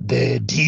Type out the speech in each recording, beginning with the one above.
The DC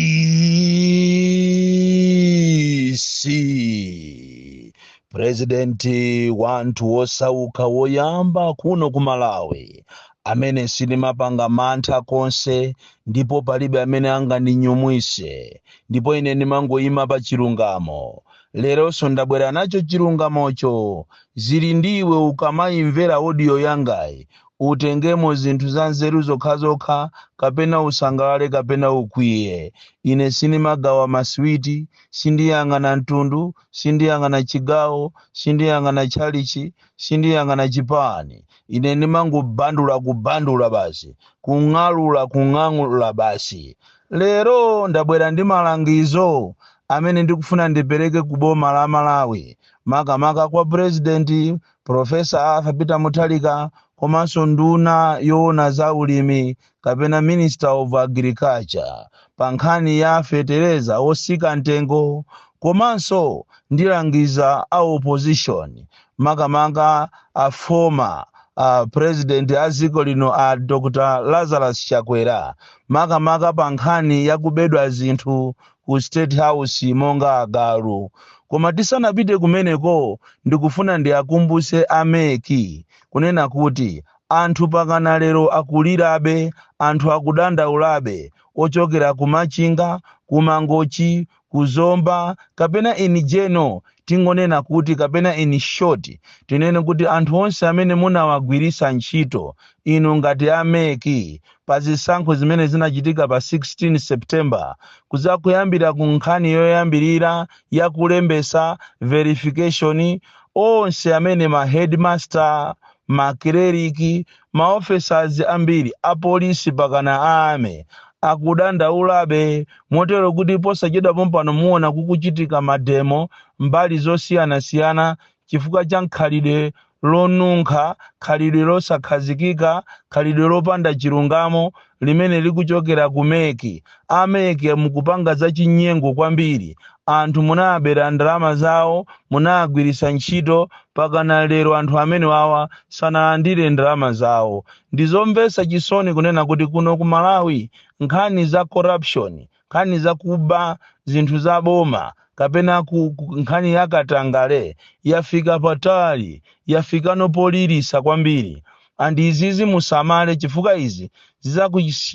purezidenti wa anthu wosauka woyamba kuno ku malawi amene sindimapanga mantha konse ndipo palibe amene angandinyumwise ndipo ine ndimangoyima pa chilungamo leronso ndabwera nacho chilungamocho zili ndi iwe ukamayimvera odiyo yangayi Utengemo zinthu zanzeru zokhazokha, kapena usangalale kapena ukwiye. Ine sindimagawa masiwiti, sindiyang'ana mtundu, sindiyang'ana chigawo, sindiyang'ana tchalitchi, sindiyang'ana chipani. Ine ndimangobandula, kubandula basi, kung'alula, kung'alula basi. Lero ndabwera ndi malangizo amene ndikufuna ndipereke ku boma la Malawi, makamaka kwa Purezidenti Profesa Arthur Peter Mutharika komanso nduna yoona za ulimi kapena Minister of Agriculture pa nkhani ya fetereza otsika mtengo komanso ndilangiza a opposition makamaka a former president a dziko lino a Dr. Lazarus Chakwera makamaka pa nkhani ya kubedwa zinthu ku state house monga agalu koma tisanapite kumeneko ndikufuna ndiakumbuse a mec kunena kuti anthu pakana lero akulirabe anthu akudandaulabe ochokera ku machinga ku mangochi ku zomba kapena in general tingonena kuti kapena in short tinene kuti anthu onse amene munawagwiritsa ntchito inu ngati a mec pa zisankho zimene zinachitika pa 16 September kudza kuyambira ku nkhani yoyambirira ya kulembetsa verification onse amene ma headmaster makileriki ma officers ambiri apolisi pakana a army akudandaulabe motero kuti posachedwa pompano muona kukuchitika mademo mbali zosiyanasiyana chifukwa cha khalidwe lonunkha, khalidwe losakhazikika, khalidwe lopanda chilungamo limene likuchokera ku mec. A mec mukupanga za chinyengo kwambiri. Anthu munawabera ndalama zawo, munawagwiritsa ntchito, pakana lero anthu amenewawa sanalandire ndalama zawo. Ndizomvetsa chisoni kunena kuti kuno ku Malawi nkhani za corruption nkhani za kuba zinthu za boma kapena ku nkhani ya katangale yafika patali yafikano poliritsa kwambiri and izizi musamale chifukwa izi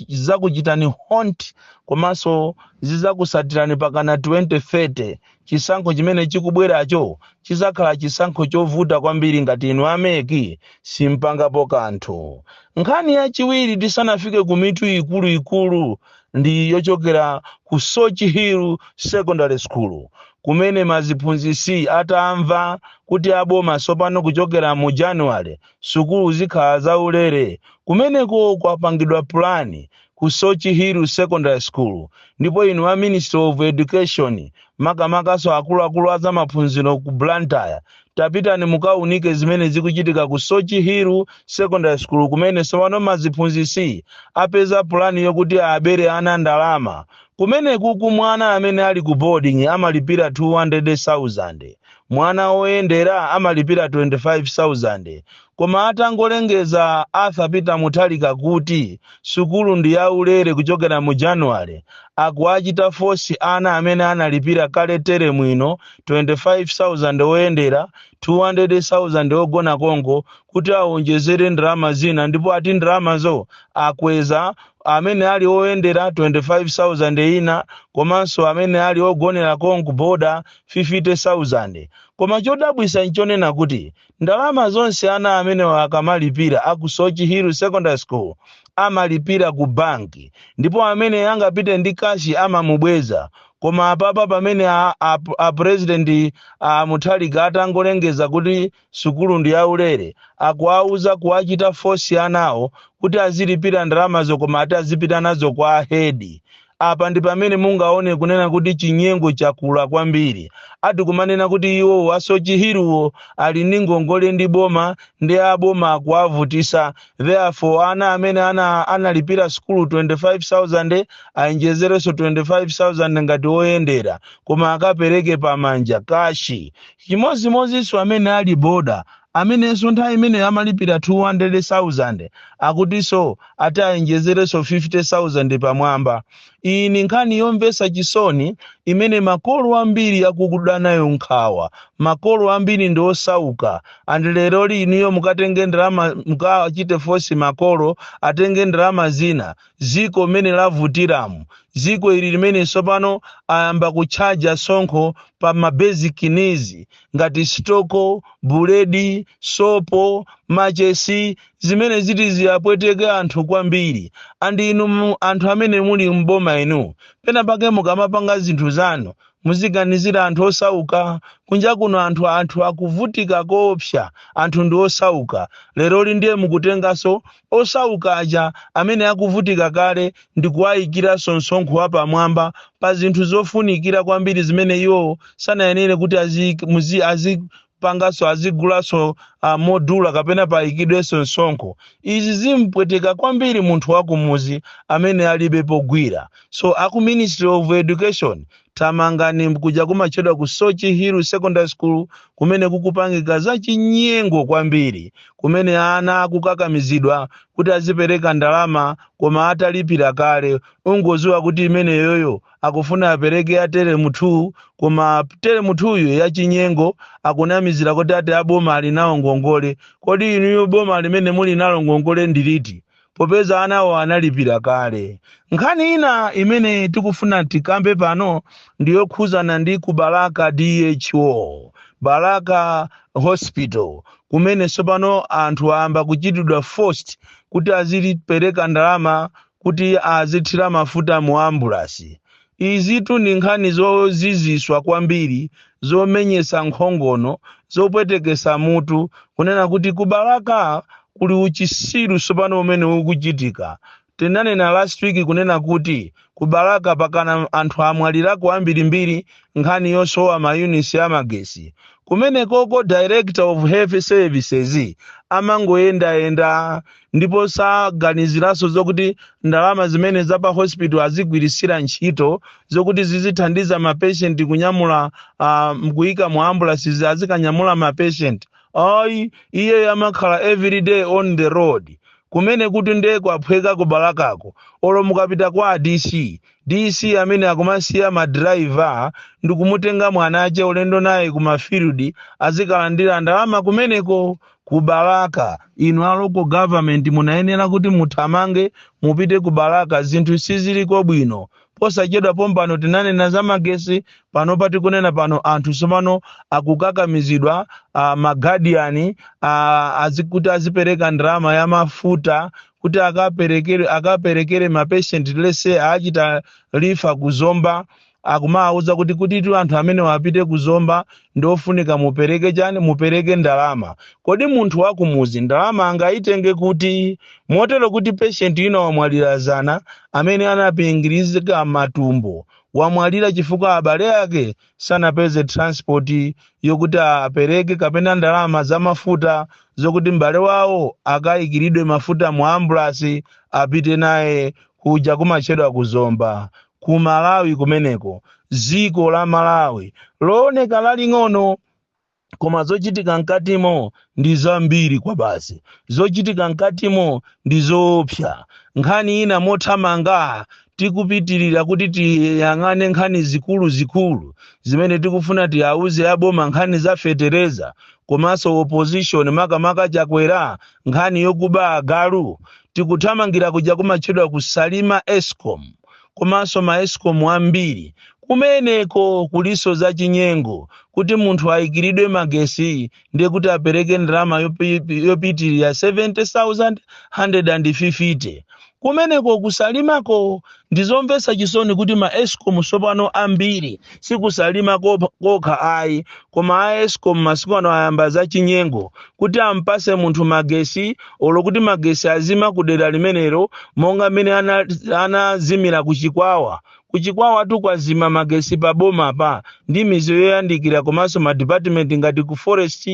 zizakuchitani haunt komanso zizakusatirani pakana 2030 Chisankho chimene chikubweracho chidzakhala chisankho chovuta kwambiri ngati inu a mec simpangapo kanthu. Nkhani yachiwiri tisanafike ku mitu ikulu ikulu ndi yochokera ku Soche Hill Secondary School kumene maziphunzitsi atamva kuti a boma tsopano kuchokera mu January sukulu zikhala za ulere, kumeneko kwapangidwa pulani ku Soche Hill Secondary School ndipo inu a Ministry of Education makamakanso akuluakulu a zamaphunziro ku Blantyre tapitani mukaunike zimene zikuchitika ku Soche Hill Secondary School kumene tsopano maziphunzitsi apeza pulani yokuti abere ana ndalama. Kumenekuku mwana amene ali ku boarding amalipira 200,000, mwana woyendera amalipira 25,000. Koma atangolengeza Arthur Peter Mutharika kuti sukulu ndi ya ulere kuchokera mu January, akuwachita force ana amene analipira kale teremu ino 25,000 oyendera, 200,000 ogona konko kuti awonjezere ndalama zina ndipo ati ndalamazo akweza amene ali oyendera 25,000 ina komanso amene ali ogonera konko boarder 50,000. Koma chodabwitsa nchonena kuti Ndalama zonse ana amenewa akamalipira a ku Soche Hill Secondary School amalipira ku bank ndipo amene angapite ndi cash amamubweza koma apapa pamene a, a, a president a Mutharika atangolengeza kuti sukulu ndi yaulere akuwauza kuwachita force anawo kuti azilipira ndalamazo koma ati azipita nazo kwa a head Apa ndi pamene mungaone kunena kuti chinyengo chakula kwambiri. Ati kumanena kuti iwowo a Soche Hill-wo ali ndi ngongole ndi boma nde a boma akuwavutisa therefore ana amene analipira sukulu 25,000 awonjezerenso 25,000 ngati oyendera koma akapereke pamanja kashi. Chimozimozinso amene ali boarder amenenso nthawi imeneyo amalipira 200,000 akutinso ati awonjezerenso 50,000 pamwamba. Iyi ni nkhani yomvetsa chisoni imene makolo ambiri akuda nayo nkhawa. Makolo ambiri ndi osauka and leroli inuyo mukatenge ndalama mukachite force makolo atenge ndalama zina dziko mmene lavutiramu, dziko ili limene tsopano ayamba kutchaja tsonkho pa ma basic needs ngati sitoko, buledi, sopo, machesi, zimene ziti ziwapweteke anthu kwambiri and inu mu- anthu amene muli m'boma inu pena pake mukamapanga zinthu zanu muziganizira anthu osauka kunja kuno anthu anthu akuvutika koopsa anthu ndi osauka leroli ndiye mukutenganso osauka aja amene akuvutika kale ndi kuwaikiranso msonkho wapamwamba pa zinthu zofunikira kwambiri zimene iwo sanayenere kuti aziik- muzi- azipanganso azigulanso ah, modula kapena paikidwenso msonkho izi zimpweteka kwambiri munthu wakumuzi amene alibe pogwira so aku ministry of education Thamangani kuja kumatchedwa ku Soche Hill Secondary School kumene kukupangika zachinyengo kwambiri kumene ana akukakamizidwa kuti azipereka ndalama koma atalipira kale ungoziwa kuti imeneyoyo akufuna apereke ya teremu 2 koma teremu 2 yo yachinyengo akunamizira kuti ati aboma ali nawo ngongole kodi inuyo boma limene muli nalo ngongole ndiliti popeza anawo analipira kale. Nkhani ina imene tikufuna tikambe pano ndi yokhuzana ndi ku Balaka DHO, Balaka Hospital, kumene tsopano anthu ayamba kuchitidwa forced kuti azilipereka ndalama kuti azithira mafuta mu ambulasi. Izitu ndi nkhani zoziziswa kwambiri zomenyetsa nkhongono, zopwetekesa mutu kunena kuti ku Balaka kuli uchisiru sopano umene ukuchitika. Tinanena last week kunena kuti ku Balaka pakana anthu amwalirako ambirimbiri nkhani yosowa ma units a magesi. Kumenekoko Director of Health Services amangoyendayenda. ndipo saganiziranso zokuti ndalama zimene za pa hospital azigwiritsira ntchito zokuti zizithandiza mapeshenti kunyamula uh, kuyika mu ambulansi azikanyamula mapeshenti ayi iyeyo amakhala everyday on the road kumene kuti nde kwaphweka kubalakako olo mukapita kwa dc dc amene akumasiya madrayiva ndikumutenga mwanache ulendo naye ku mafield azikalandira ndalama kumeneko ku balaka inu a local government munayenera kuti muthamange mupite ku balaka zinthu siziliko bwino posachedwa pompano tinanena za magesi pano patikunena pano anthu tsopano akukakamizidwa uh, magadiyani uh, azikuti azipereka ndalama ya mafuta kuti akaperekere akaperekere mapeshenti lese achita refer kuzomba akumawauza kuti kuti anthu amenewo apite ku zomba ndi ofunika mupereke chani mupereke ndalama kodi munthu wakumuzi ndalama angayitenge kuti motero kuti patient wina wamwalira zana amene anapingirizika matumbo wamwalira chifukwa abale ake sanapeze transport yokuti apereke kapena ndalama za mafuta zokuti m'bale wawo akayikiridwe mafuta mu ambulasi apite naye kuja kumatchedwa kuzomba ku malawi kumeneko dziko la malawi looneka laling'ono koma zochitika mkatimo ndi zambiri kwabasi zochitika mkatimo ndi zoopsa nkhani ina mothamanga tikupitirira kuti tiyang'ane nkhani zikuluzikulu zimene tikufuna tiwauze aboma nkhani za fetereza komanso opposition makamaka chakwera nkhani yokuba agalu tikuthamangira kuja kumatchedwa ku salima escom komanso ma escom ambiri kumeneko kuliso za chinyengo kuti munthu ayikiridwe magesi ndiye kuti apereke ndalama yopi- yopitirira 70150 kumeneko ku salimako Ndizomvetsa chisoni kuti ma escom tsopano ambiri si ku salima kop- kokha ayi koma a escom masiku ano ayamba zachinyengo kuti ampase munthu magesi olo kuti magesi azima ku dera limenelo monga mmene ana- anazimira ku chikwawa ku chikwawatu kwazima magesi pa bomapa ndi mizi yoyandikira komanso ma department ngati ku forest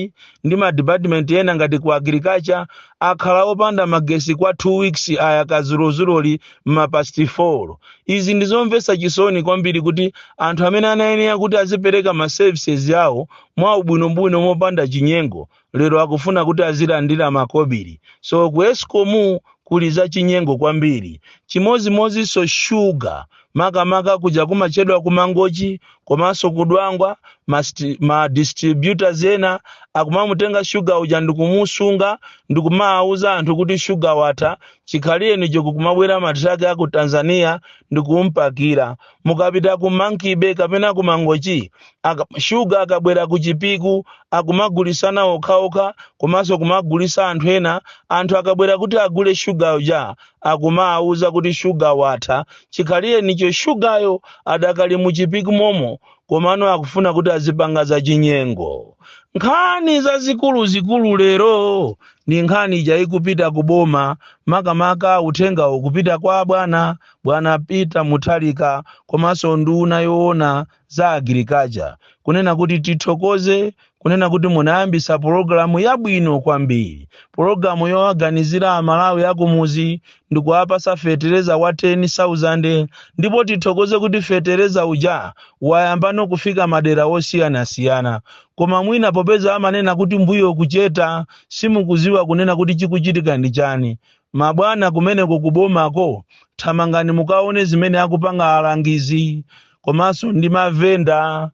ndi ma department ena ngati ku agriculture akhala opanda magesi kwa 2 weeks ayaka zulozuloli mmapasti 4 izi ndi zomvetsa chisoni kwambiri kuti anthu amene anayenera kuti azipereka ma services awo mwa ubwinobwino mopanda chinyengo lero akufuna kuti azilandira makobiri so ku escom kuli za chinyengo kwambiri chimodzimodzinso shuga makamaka kuja kumatchedwa ku mangochi komanso ku Dwangwa ma, ma distributors ena akumamutenga shuga uja ndikumusunga ndikumawuza anthu kuti shuga watha chikhalirenicho kumabwera matraki a ku Tanzania ndikumpakira mukapita ku Monkey Bay kapena ku Mangochi aka, shuga akabwera ku Chipiku akumagulisana okhaokha komanso kumagulisa anthu ena anthu akabwera kuti agule shuga uja akumawauza kuti shuga watha chikhalirenicho shugayo adakali mu chipiku momo komano akufuna kuti azipanga zachinyengo nkhani zazikuluzikulu lero ndi nkhani ija ikupita ku boma makamaka uthengawu ukupita kwa bwana bwana peter mutharika komanso nduna yoona za Agriculture kunena kuti tithokoze kunena kuti munayambisa pologalamu yabwino kwambiri, pologalamu yowaganizira Amalawi akumuzi ndikuwapasa fetereza wa 10,000 ndipo tithokoze kuti fetereza uja wayambano kufika madera wosiyanasiyana koma mwina popeza amanena kuti mbuyo kucheta simukuziwa kunena kuti chikuchitika ndi chani Mabwana kumeneko ku bomako thamangani mukaone zimene akupanga alangizi komanso ndi mavenda.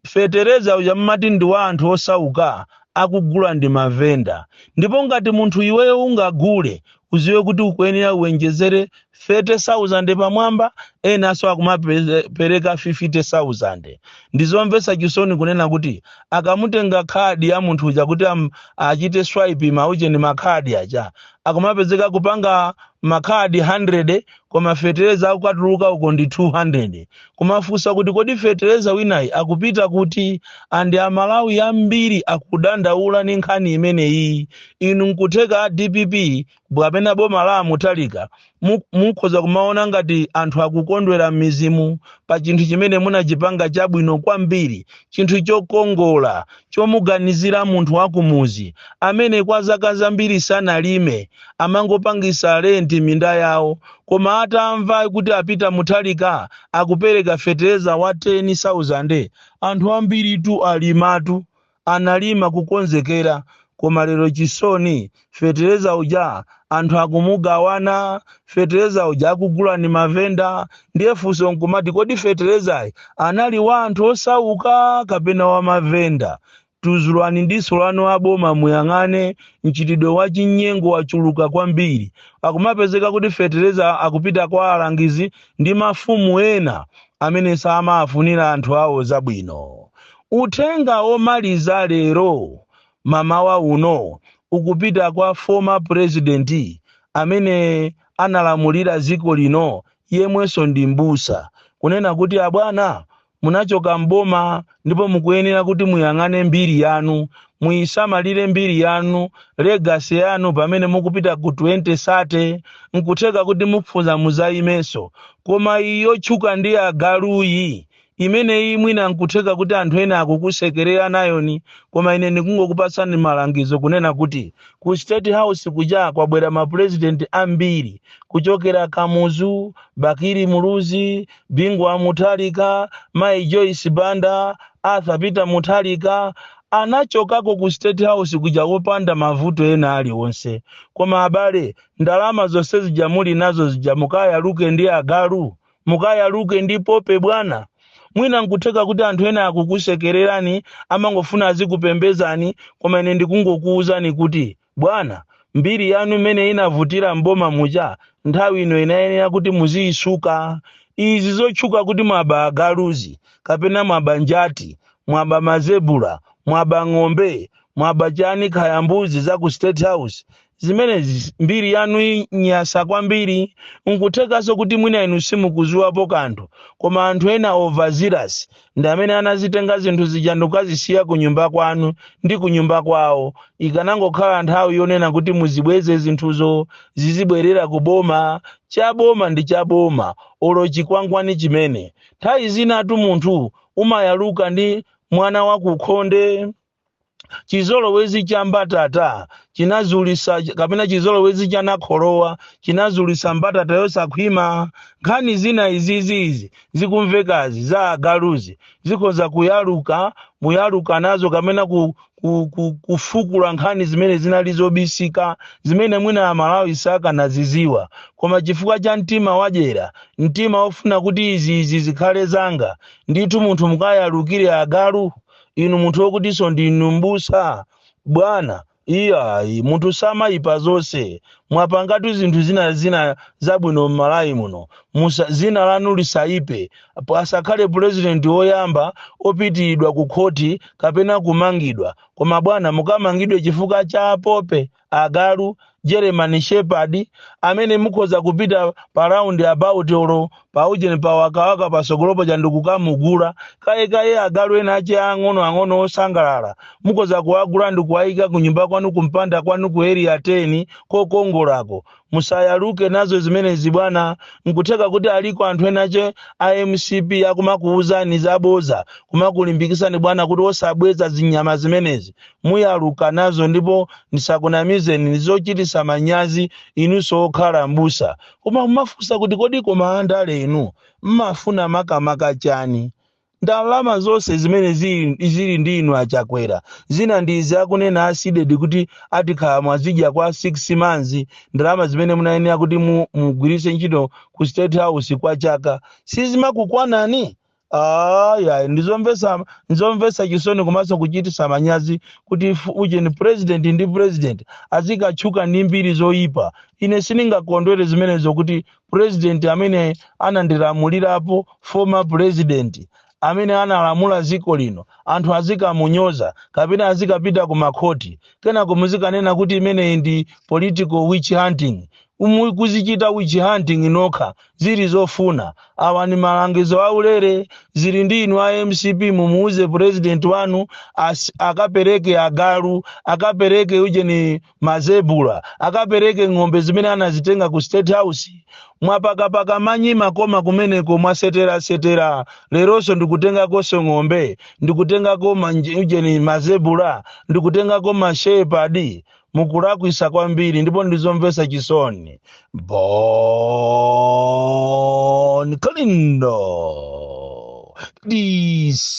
Fetereza uja mmati ndi wa anthu osauka akugula ndi mavenda ndipo ngati munthu iweyo ungagule uziwe kuti ukuyenera uwenjezere 30,000 pamwamba enanso akumapereka 50,000. Ndizomvetsa chisoni kunena kuti akamutenga khadi ya munthu uja kuti achite swipe ma ujeni ma khadi aja akumapezeka kupanga makhadi 100 koma fetereza akukatuluka uko ndi 200 kumafunsa kuti kodi fetereza winayi akupita kuti andi amalawi ambiri akudandaula ni nkhani imeneyi inu nkutheka dpp kapena boma la a Mutharika mukhoza kumaona ngati anthu akukondwera m'mizimu pa chinthu chimene munachipanga chabwino kwambiri chinthu chokongola chomuganizira munthu wakumuzi amene kwa zaka zambiri sanalime amangopangisa renti minda yawo koma atamva kuti a Peter Mutharika akupereka fetereza wa 10000 anthu ambiritu alimatu analima kukonzekera koma lero chisoni fetereza uja anthu akumugawana fetereza uja akugula ndi mavenda ndiye funso nkumati kodi feterezayi anali wa anthu osauka kapena wa mavenda tuzulani diso lanu aboma muyang'ane mchitidwe wa chinyengo wachuluka kwambiri akumapezeka kuti fetereza akupita kwa alangizi ndi mafumu ena amene samafunira anthu awo zabwino. Uthenga omaliza lero mamawa uno ukupita kwa former president amene analamulira ziko lino yemwenso ndi m'busa kunena kuti abwana munachoka m'boma ndipo mukuyenera kuti muyang'ane mbiri yanu muyisamalire mbiri yanu legacy yanu pamene mukupita ku 2030 nkutheka kuti mukufuna muzayimenso koma iyi yotchuka ndi agaluyi imeneyi mwina nkutheka kuti anthu ena akukusekerera nayoni koma ine ndikungokupasani malangizo kunena kuti ku state house kuja kwabwera mapurezidenti ambiri kuchokera kamuzu Bakili Muluzi Bingu wa Mutharika, Mayi Joyce Banda, Arthur Peter Mutharika anachokako ku State House kuja wopanda mavuto ena aliwonse. Koma abale, ndalama zonse zija muli nazo zija mukayaluke ndi agalu, mukayaluke ndi poppy bwana. Mwina nkutheka kuti anthu ena akukusekererani, amangofuna azikupembezani, koma ine ndikungokuwuzani kuti Bwana, mbiri yanu mmene inavutira m'boma muja nthawi ino inayenera kuti muziyisuka. Izi zotchuka kuti mwaba agaluzi, kapena mwaba njati, mwaba mazebula, mwaba ng'ombe, mwaba chani khaya mbuzi za ku State House, zimenezi mbiri yanu inyasa kwambiri. Nkuthekanso kuti mwina inu simukuziwapo kanthu koma anthu ena overzealous. ndi amene anazitenga zinthu zija ndikukazisiya ku nyumba kwanu ndi ku nyumba kwawo ikanangokhala nthawi yonena kuti muzibweze zinthuzo zizibwerera ku boma cha boma ndi cha boma olo chikwangwani chimene nthawi zinatu munthu umayaluka ndi mwana wakukhonde chizolowezi cha mbatata chinazulisa kapena chizolowezi cha nakholowa chinazulisa mbatata yosakhwima nkhani zina izi zikumvekazi za agaluzi zikhoza kuyaluka muyaluka nazo kapena ku, ku, ku, kufukula nkhani zimene zinali zobisika zimene mwina amalawi sakanaziziwa koma chifukwa cha mtima wadyera mtima wofuna kuti izi izi zikhale zanga ndithu munthu mukayalukire agalu inu munthu wokutiso ndinu mbusa bwana iyayi munthu samayipa zonse mwapangatu zinthu zina zina zabwino m'malawi muno, zina lanu lisayipe asakhale pulezidenti woyamba opitiridwa ku khoti kapena kumangidwa koma bwana mukamangidwe chifukwa cha apope agalu, German shepherd, amene mukhoza kupita pa round about olo pa ujeni pa wakawaka pasogolopo cha ndikukamugula kaye kaye agalu ena ache ang'ono ang'ono osangalala mukhoza kuwagula ndi kuwayika ku nyumba kwanu kumpanda kwanu ku area 10 kokongolako Musayaluke nazo zimenezi bwana, nkutheka kuti aliko anthu enache a mcp akumakuuzani zaboza kumakulimbikisani bwana kuti osabweza zinyama zimenezi. Muyaluka nazo ndipo ndisakunamizeni ndizochitisa manyazi inunso okhala m'busa koma mumafunsa kuti kodi koma andale inu mmafuna makamaka chani? ndalama zonse zimene zili zili ndi inu achakwera zina ndi izi akunena asidedi kuti ati kala mwazidya kwa 6 months ndalama zimene munayenera kuti mu- mugwiritse ntchito ku state house kwa chaka sizimakukwanani aya ndizomvesa ndizomvesa chisoni komanso kuchitisa manyazi kuti f- ujeni president ndi president azikatchuka ndi mbiri zoyipa ine sindingakondwere zimenezo kuti president amene anandilamulirapo former president amene analamula dziko lino anthu azikamunyoza kapena azikapita ku makhoti kenako muzikanena kuti imeneyi ndi political witch hunting Umu- kuzichita witch hunting nokha zili zofuna awa ni malangizo aulere zili ndi inu a mcp mumuuze president wanu as- akapereke agalu akapereke ujeni Mazebula akapereke ng'ombe zimene anazitenga ku State House. Mwapakapaka manyi makoma kumeneko, mwaseterasetera, leronso ndikutengakonso ng'ombe, ndikutengako maujeni, mazebula, ndikutengako mashepadi. Mukulakwisa kwambiri ndipo ndizomvesa chisoni. Bon Kalindo DC